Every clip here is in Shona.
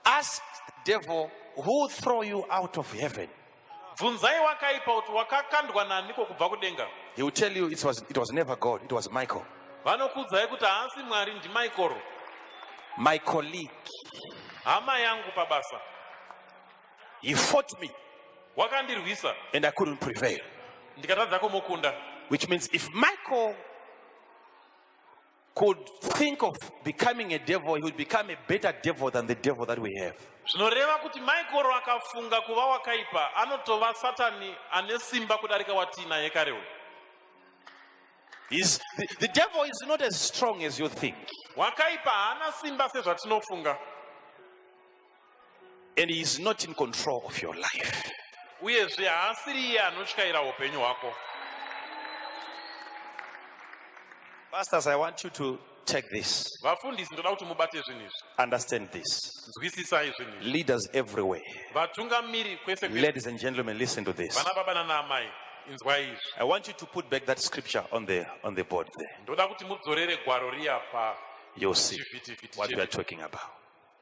Ask devil who throw you out of heaven. Bvunzai wakaipa kuti wakakandwa naniko kubva kudenga. He will tell you it was, it was never God, it was Michael. Vanokuudzai kuti haasi Mwari ndi Michael. My colleague. Hama yangu pabasa. He fought me. Wakandirwisa. And I couldn't prevail. Ndikatadza kumukunda. Which means if Michael could think of becoming a devil, he would become a better devil than the devil that we have. zvinoreva kuti maikoro akafunga kuva wakaipa anotova satani ane simba kudarika watiinaye kare uyu He's, the, the devil is not as strong as you think. wakaipa haana simba sezvatinofunga and he is not in control of your life uyezve haasiri iye anotyaira upenyu hwako pastors i want you to take this vafundisi ndoda kuti mubate zvinhu izvi understand this nzwisisai zvinhu izvi leaders everywhere vatungamiri kwese ladies and gentlemen listen to this vana baba nanaamai inzwai izvi i want you to put back that scripture on the on the board there ndoda kuti mudzorere gwaro riya pa you'll see what we are talking about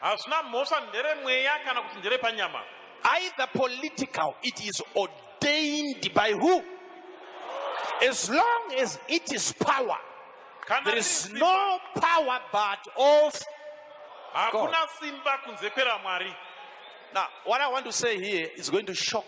Hazvina mhosva ndere mweya kana kuti ndere panyama. Either political it is ordained by who? As long as it is power. Kana there is no power but of Hakuna simba kunze kwera Mwari. Now, what I want to say here is going to shock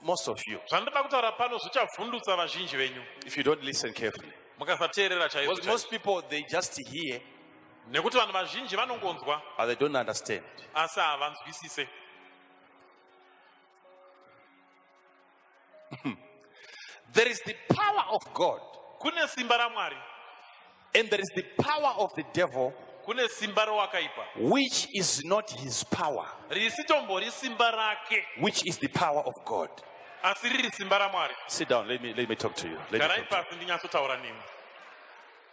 most of you. Zvandoda kutaura pano zvichavhundutsa vazhinji venyu. If you don't listen carefully. Mukasateerera chaizvo. Most people they just hear Nekuti vanhu vazhinji vanongonzwa but they don't understand. asi havanzwisise. There is the power of God Kune simba raMwari, and there is the power of the devil, kune simba rowakaipa, which is not his power, risitombori simba rake, which is the power of God. asi riri simba raMwari. Sit down, let me, let me talk to you. Let me Garai talk to you. pasi ndinyatsotaura nemi.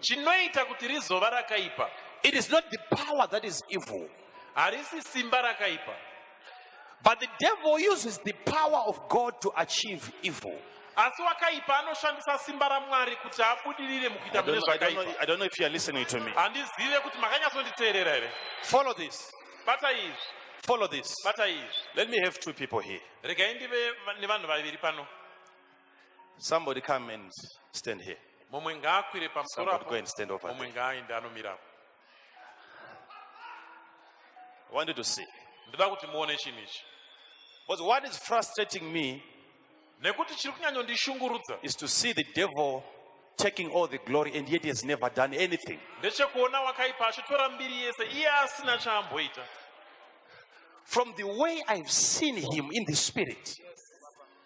Chinoita kuti rizova rakaipa. It is not the power that is evil. Harisi simba rakaipa. But the devil uses the power of God to achieve evil. asi wakaipa anoshandisa simba ramwari kuti abudirire mukuita mune zvakaipahandizive kuti makanyatsonditeerera here follow this bata izvi follow this bata izvi let me have two people here regai ndive nevanhu vaviri pano Somebody come and stand here. Mumwe ngaakwire pamusoro apo. Go and stand over. Mumwe ngaaende anomira apo. I wanted to see. Ndida kuti muone chinhu ichi. Because what is frustrating me nekuti chiri kunyanyondishungurudza is to see the devil taking all the glory and yet he has never done anything. Ndechekuona wakaipa achitora mbiri yese iye asina chaamboita. From the way I've seen him in the spirit.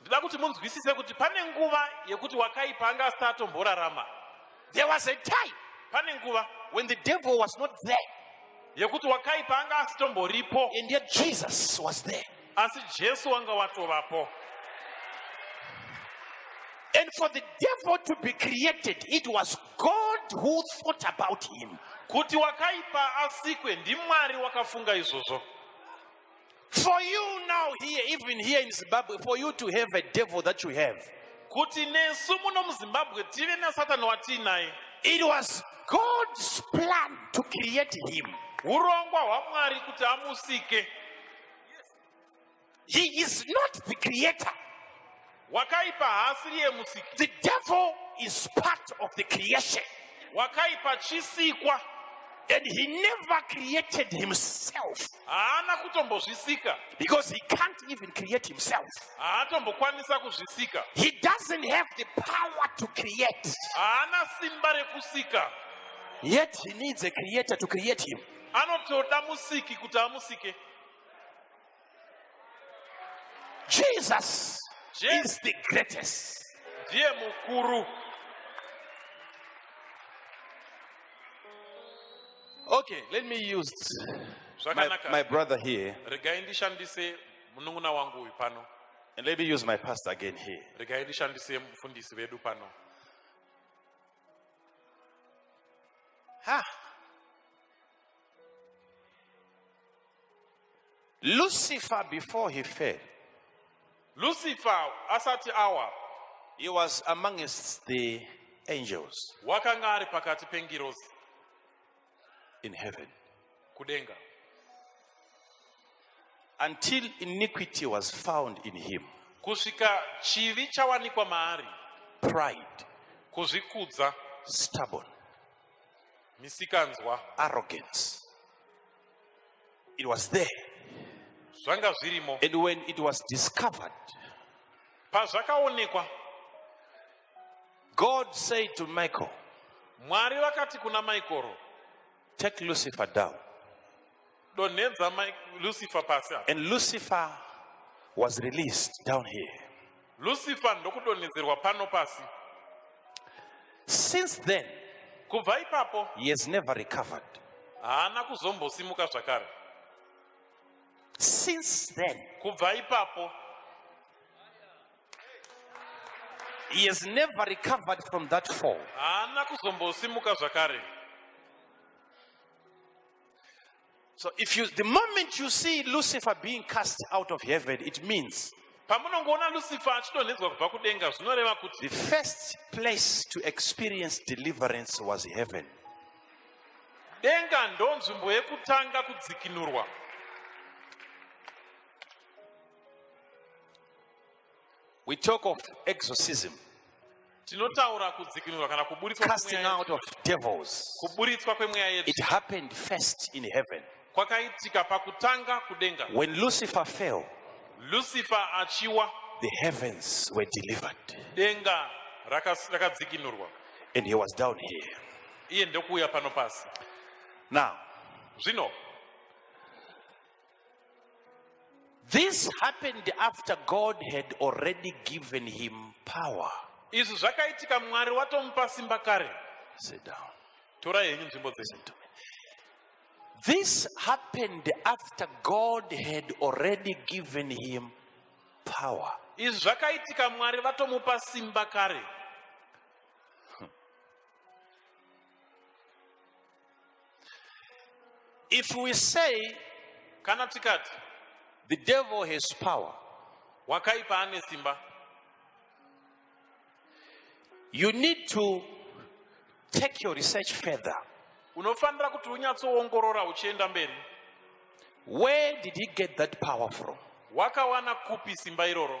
Ndoda kuti munzwisise kuti pane nguva yekuti wakaipa anga asati atomborarama. There was a time pane nguva when the devil was not there yekuti wakaipa anga asitomboripo and yet Jesus was there. asi Jesu wanga watovapo. And for the devil to be created, it was God who thought about him. Kuti wakaipa asikwe ndiMwari wakafunga izvozvo. For you now here, even here in Zimbabwe, for you to have a devil that you have. Kuti nesu muno muZimbabwe tive nasatani watiinaye. It was God's plan to create him. Urongwa hwaMwari kuti amusike. He is not the creator. Wakaipa haasiri yemusiki. The devil is part of the creation. Wakaipa chisikwa. And he never created himself. Haana kutombozvisika. Because he can't even create himself. Haatombokwanisa kuzvisika. He doesn't have the power to create. Haana simba rekusika. Yet he needs a creator to create him. Anotoda musiki kuti amusike. Jesus Je- is the greatest. ndiye mukuru Okay, let me use my, zvakanaka my brother here regai ndishandise munun'una wangu uyu pano and let me use my pastor again here. regai ndishandise mufundisi vedu pano Ha! Lucifer before he fell. Lucifer asati awa. He was amongst the angels. Wakanga ari pakati pengirozi. In heaven. Kudenga. Until iniquity was found in him. Kusvika chivi chawanikwa maari. Pride. Kuzvikudza. Stubborn. misikanzwa arrogance it was there zvanga zvirimo and when it was discovered pazvakaonekwa god said to michael mwari vakati kuna michael take lucifer down Donhedza Mike Lucifer pasi apa. And Lucifer was released down here. Lucifer ndokudonhedzerwa pano pasi. Since then, kubva ipapo, he has never recovered. Haana kuzombosimuka zvakare. Since then, kubva ipapo, he has never recovered from that fall. Haana kuzombosimuka zvakare. So if you, the moment you see Lucifer being cast out of heaven, it means pamunongoona lucifer achidonhedzwa kubva kudenga zvinoreva kuti the first place to experience deliverance was heaven denga ndo nzvimbo yekutanga kudzikinurwa We talk of exorcism. Tinotaura kudzikinurwa kana kuburitswa casting out of devils. Kuburitswa kwemweya yedu. It happened first in heaven. Kwakaitika pakutanga kudenga. When Lucifer fell. Lucifer achiwa. The heavens were delivered. Denga rakadzikinurwa. And he was down here. Iye ndokuuya pano pasi. Now. Zvino. This happened after God had already given him power. Izvi zvakaitika Mwari watomupa simba kare. Sit down. Torai henyu nzvimbo dzese. This happened after God had already given him power. Izvi zvakaitika Mwari vatomupa simba kare. If we say, kana tikati, the devil has power, wakaipa ane simba, you need to take your research further. Unofanira kuti unyatsoongorora uchienda mberi. Where did he get that power from? Wakawana kupi simba iroro?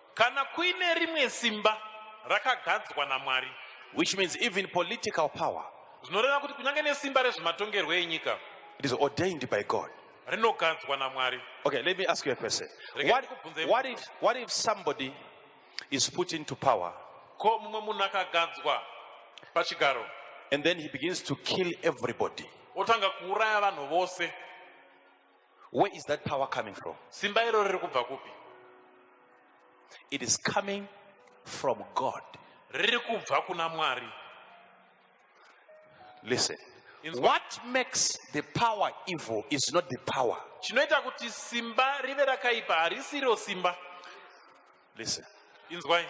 Kana kuine rimwe simba rakagadzwa naMwari. Which means even political power. Zvinoreva kuti kunyange nesimba rezvematongerwo enyika. It is ordained by God. Rinogadzwa naMwari. Okay, let me ask you a question. What, what, if, what if somebody is put into power? Ko mumwe munhu akagadzwa pachigaro. And then he begins to kill everybody. Otanga kuuraya vanhu vose. Where is that power coming from? Simba iro riri kubva kupi? It is coming from God. Riri kubva kuna Mwari. Listen. What makes the power evil is not the power. Chinoita kuti simba rive rakaipa harisiro simba. Listen. Inzwai.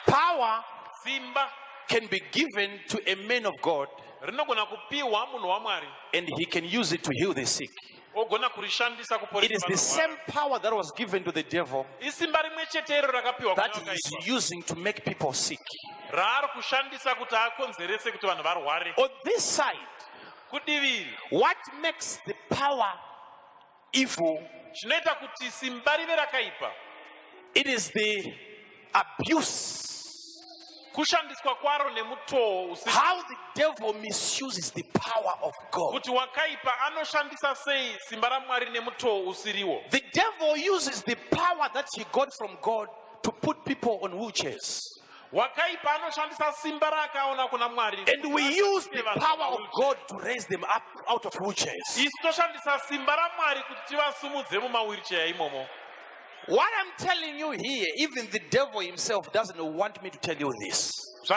Power simba can be given to a man of God rinogona kupiwa munhu waMwari and he can use it to heal the sick. ogona kurishandisa kuporesa It is the vanorwara. same power that was given to the devil Isimba rimwe chete iro rakapiwa that kuna he is vakaipa using to make people sick. raari kushandisa kuti akonzerese kuti vanhu varware. On this side, Kudivi iri, what makes the power Evil zvinoita kuti simba rive rakaipa. It is the abuse kushandiswa kwaro nemutoo usi how the devil misuses the power of god kuti wakaipa anoshandisa sei simba ramwari nemutoo usiriwo the devil uses the power that he got from god to put people on wheelchairs Wakaipa anoshandisa simba raakaona kuna Mwari. And we use the power of God to raise them up out of wheelchairs. Isu toshandisa simba raMwari kuti tivasumudze mumawheelchair imomo. What I'm telling you here, even the devil himself doesn't want me to tell you this. He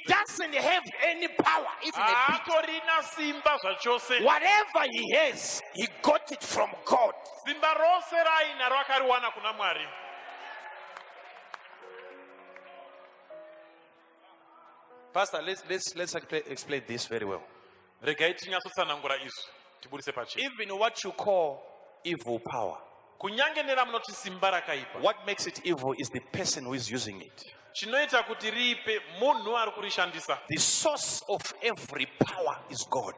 doesn't have any power, even a bit. Whatever he has, he got it from God. Simba rose raainaro akariwana kuna Mwari. Pastor, let's, let's, let's explain this very well. Regai tinyatsotsanangura izvi tiburitse pachena. Even what you call evil power. Kunyange neramunoti simba rakaipa. What makes it evil is the person who is using it. Chinoita kuti riipe munhu ari kurishandisa. The source of every power is God.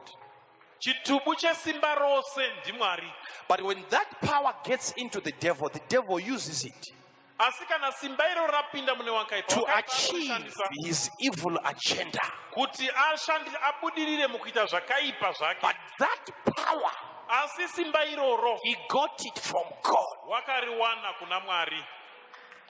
Chitubu chesimba rose ndiMwari. But when that power gets into the devil, the devil uses it. Asi kana simba iro rapinda mune wakaipa, to achieve his evil agenda. Kuti ashandi abudirire mukuita zvakaipa zvake. But that power asi simba iroro he got it from God. Wakariwana kuna Mwari.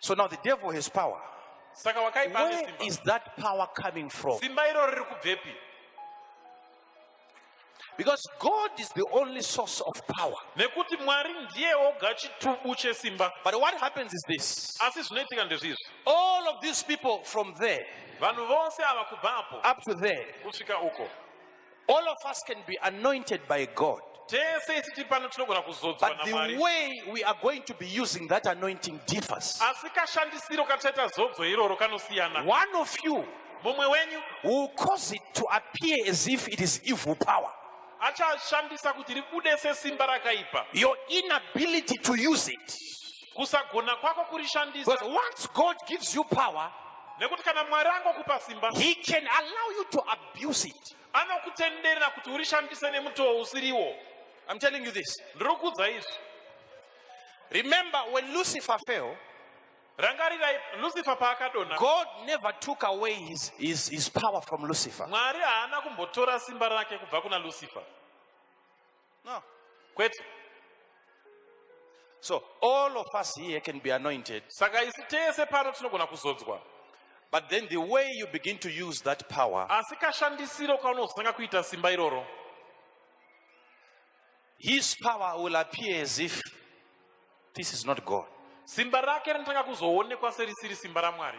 So now the devil has power. Saka wakaipa ane simba. Where is that power coming from? Simba iro riri kubvepi? Because God is the only source of power. Nekuti Mwari ndiye oga chitubu chesimba. But what happens is this. Asi zvinoitika ndezvizvi. All of these people from there. Vanhu vose ava kubva apo. Up to there. Kusvika uko. All of us can be anointed by God. tese isi tiri pano tinogona kuzodzwa But the namwari way we are going to be using that anointing differs. asi kashandisiro kataita zodzo iroro kanosiyana One of you mumwe wenyu will cause it to appear as if it is evil power. achashandisa kuti ribude sesimba rakaipa Your inability to use it kusagona kwako kurishandisa Because once God gives you power, nekuti kana mwari angokupa simba He can allow you to abuse it. anokutenderera kuti urishandise nemutoo usiriwo I'm telling you this. ndiri kuudza izvi Remember, when Lucifer fell, rangarirai lucifer paakadonha God never took away his, his, his power from Lucifer. mwari haana kumbotora simba rake kubva kuna lucifer No, kwete. So all of us here can be anointed. Saka isi tese pano tinogona kuzodzwa. But then the way you begin to use that power. Asi kashandisiro kaunozotanga kuita simba iroro. His power will appear as if this is not God. Simba rake rinotanga kuzoonekwa serisiri simba raMwari.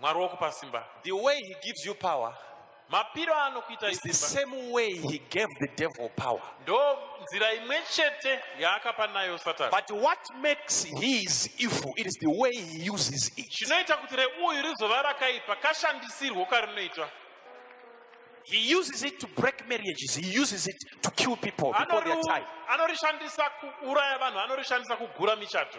Mwari wokupa simba. The way he gives you power mapiro aanokuita is the same way he gave the devil power. Ndo nzira imwe chete yaakapa nayo Satani. But what makes his evil it is the way he uses it. Chinoita kuti reuyu rizova rakaipa kashandisirwo karinoitwa. He uses it to break marriages. He uses it to kill people before their time. Anorishandisa kuuraya vanhu, anorishandisa kugura michato.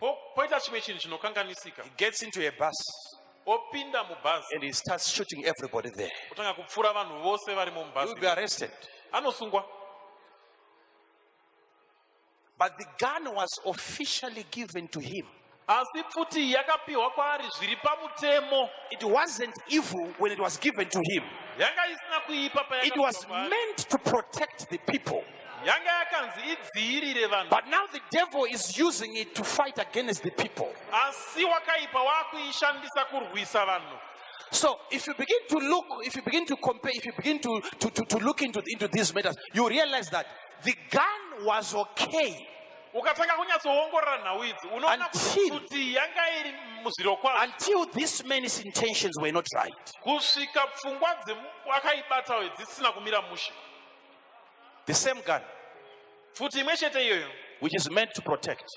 Po, poita chimwe chinhu chinokanganisika. He gets into a bus. Opinda mubhazi. And he starts shooting everybody there. Otanga kupfura vanhu vose varimo mubhazi. He will be arrested. Anosungwa. But the gun was officially given to him. asi pfuti yakapiwa kwaari zviri pamutemo it wasn't evil when it was given to him yanga isina kuipa it was meant to protect the people yanga yakanzi idziirire vanhu but now the devil is using it to fight against the people asi wakaipa waakuishandisa kurwisa vanhu So if you begin to look, if you begin to compare, if you begin to, to, to, to look into, into these matters, you realize that the gun was okay. ukatanga kunyatsoongorora nhau idzi unoona kuti yanga iri muzvirokwazvo until this man's intentions were not right kusvika pfungwa dzemwakaibatawo dzisina kumira mushe the same gun pfuti imwe chete iyoyo which is meant to protect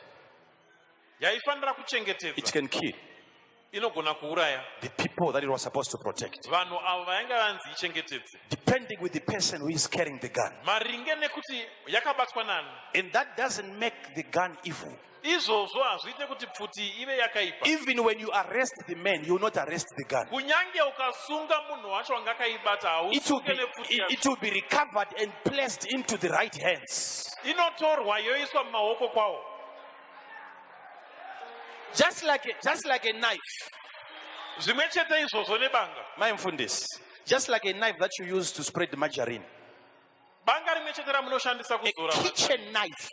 yaifanira kuchengetedza it can kill inogona kuuraya the people that it was supposed to protect vanhu avo vainge vanzi ichengetedze depending with the person who is carrying the gun maringe nekuti yakabatwa nani and that doesn't make the gun evil Izvozvo hazviite kuti pfuti ive yakaipa. Even when you arrest the man, you will not arrest the gun. Kunyange ukasunga munhu wacho wanga akaibata hausunge nepfuti yacho. It will be recovered and placed into the right hands. Inotorwa yoiswa mumaoko kwawo. Just like a, just like a knife. Zvimwe chete izvozvo nebanga. Mai mfundisi. Just like a knife that you use to spread margarine. Banga rimwe chete ramunoshandisa kuzora a kitchen knife.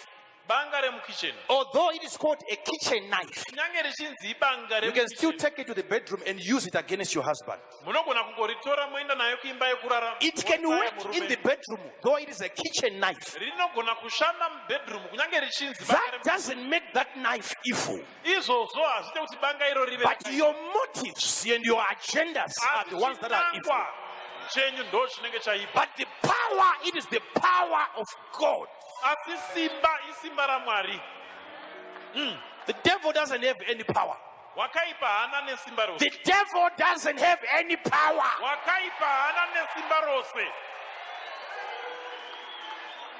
Banga remukitchen. Although it is called a kitchen knife. Kunyange richinzi ibanga remukitchen. You can still take it to the bedroom and use it against your husband. Munogona kungoritora moenda nayo kuimba yekurara. It can work in the bedroom though it is a kitchen knife. Rinogona kushanda mubedroom kunyange richinzi That doesn't make that knife evil. izvozvo hazviite kuti banga iro rive but your motives and your agendas are the ones that are evil chenyu ndo chinenge chaipa but the power it is the power of god asi simba isimba ramwari mm. the devil doesn't have any power wakaipa haana nesimba rose the devil doesn't have any power wakaipa haana nesimba rose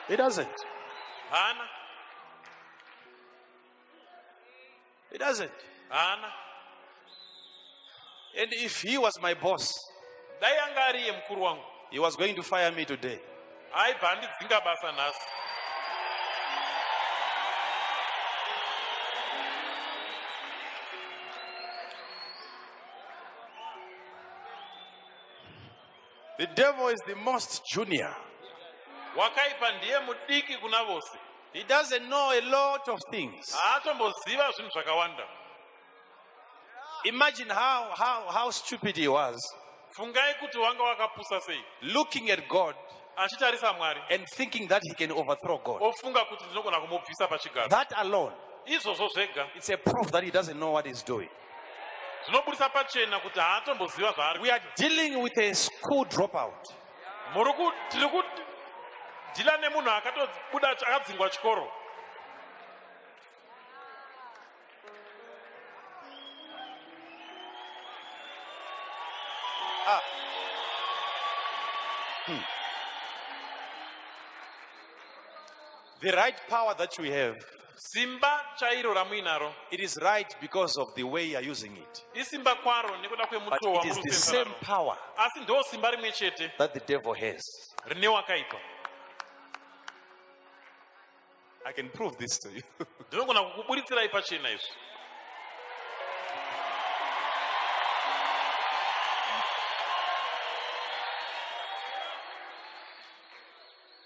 he doesn't haana He doesn't. Haana. And if he was my boss, dai anga ari iye mukuru wangu, he was going to fire me today. Aibva andidzinga basa nhasi. The devil is the most junior. Wakaipa ndiye mudiki kuna vose. He doesn't know a lot of things. Haatomboziva zvinhu zvakawanda. Imagine how, how, how stupid he was. Fungai kuti wanga wakapusa sei. Looking at God achitarisa Mwari and thinking that he can overthrow God. Ofunga kuti ndinogona kumubvisa pachigaro. That alone izvozvo zvega it's a proof that he doesn't know what he's doing. zvinoburitsa pachena kuti haatomboziva zvaari we are dealing with a school dropout muri ku tiri ku dhila nemunhu akatobuda akadzingwa chikoro ah. hmm. The right power that you have. Simba chairo ramuinaro. It is right because of the way you are using it. Isimba kwaro nekuda kwemutoo But it is the same power. Asi ndo simba rimwe chete. That the devil has. Rine wakaipa. I can prove this to you. Ndinogona kukuburitsira ipachena izvi.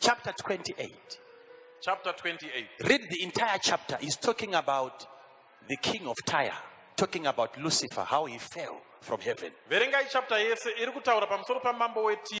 chapter 28 chapter 28 read the entire chapter is talking about the king of tyre talking about lucifer how he fell from heaven verengai chapter yese iri kutaura pamusoro pamambo wetire